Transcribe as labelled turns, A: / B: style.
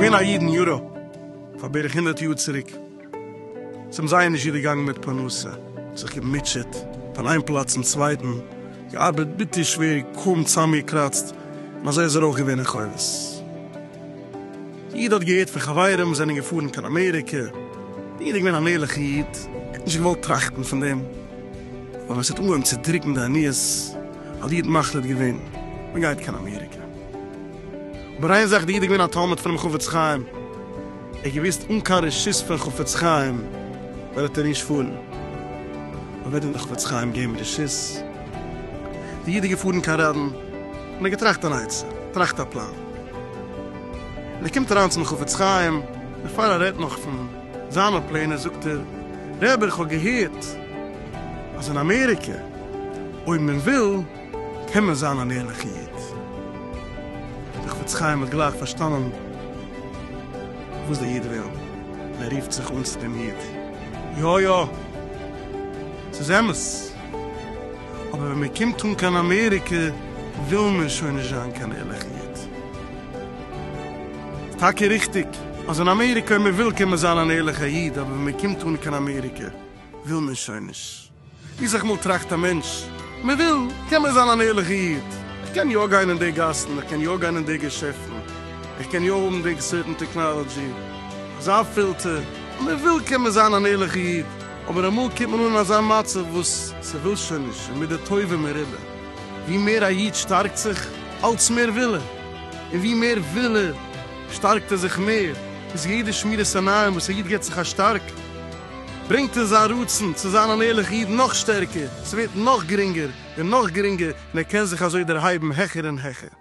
A: געווען א איד אין יוראפ פאר בערך הונדערט יאר צוריק, עס האבן זייער נישט גוט געגאנגען מיט פרנסה, זיך געמוטשעט פון איין פלאץ צום צווייטן, געארבעט ביטער שווער, קוים צוזאמגעקראצט, און אזוי איז ער אויך געווען אין חובות. איד האט געהערט פון חברים זענען געפארן קיין אמעריקע, איד איז געווען אן ערליכע איד, ער האט נישט געוואלט טראכטן פון דעם, אבער עס האט אנגעהויבן צו דרוקן די עניות, האט די איד מחליט געווען מען גייט קיין אמעריקע, אבער איין זאך די איד איז געווען א תלמיד פונעם חפץ חיים, ער האט געוואוסט אן קיין רשות פון חפץ חיים וועט ער נישט פארן, אבער וועט אים די חפץ חיים געבן רשות? די איד איז געפארן קיין רעדן און ער האט געטראכט אן עצה, טראכט א פלאן. און ער קומט אריין צום חפץ חיים, בעפאר ער רעדט נאך פון זיינע פלענער זאגט ער, רבי איך האב געהערט אז אין אמעריקע אויב מען וויל קען מען זיין אן ערליכע איד, דער חפץ חיים האט גלייך פארשטאנען וואס דער איד וויל, און ער רופט זיך אן צו דעם איד, יא יא ס'איז אמת. אבער ווען מען קומט אן קיין אמעריקע וויל מען שוין נישט זיין קיין ערליכע איד. ס'איז טאקע ריכטיג אז אין אמעריקע אויב מען וויל קען מען זיין אן ערליכע איד אבער ווען מען קומט אן קיין אמעריקע וויל מען שוין נישט. ווי סך מאל טראכט א מענטש, מען וויל קען מען זיין אן ערליכע איד, איך קען יא גיין אין די גאסן, איך קען יא גיין אין די געשעפטן, איך קען יא האבן די סערטן טעקנאלעדזשי, אזא פילטער, אויב מען וויל קען מען זיין אן ערליכע איד. אבער אמאל קומט מען אן אין אזא מצב וואס ס'וויל שוין נישט און מידי טובה מרובה. ווי מער א איד שטארקט זיך, אלץ מער וויל ער, און ווי מער וויל ער, שטארקט ער זיך מער, ביז יעדע שמירת עיניים וואס א איד גיבט זיך א שטארק, ברענגט ער זיין רצון צו זיין אן ערליכע איד נאך שטערקער, ס'ווערט נאך גרינגער און נאך גרינגער, און ער קען זיך אזוי דערהייבן העכער און העכער.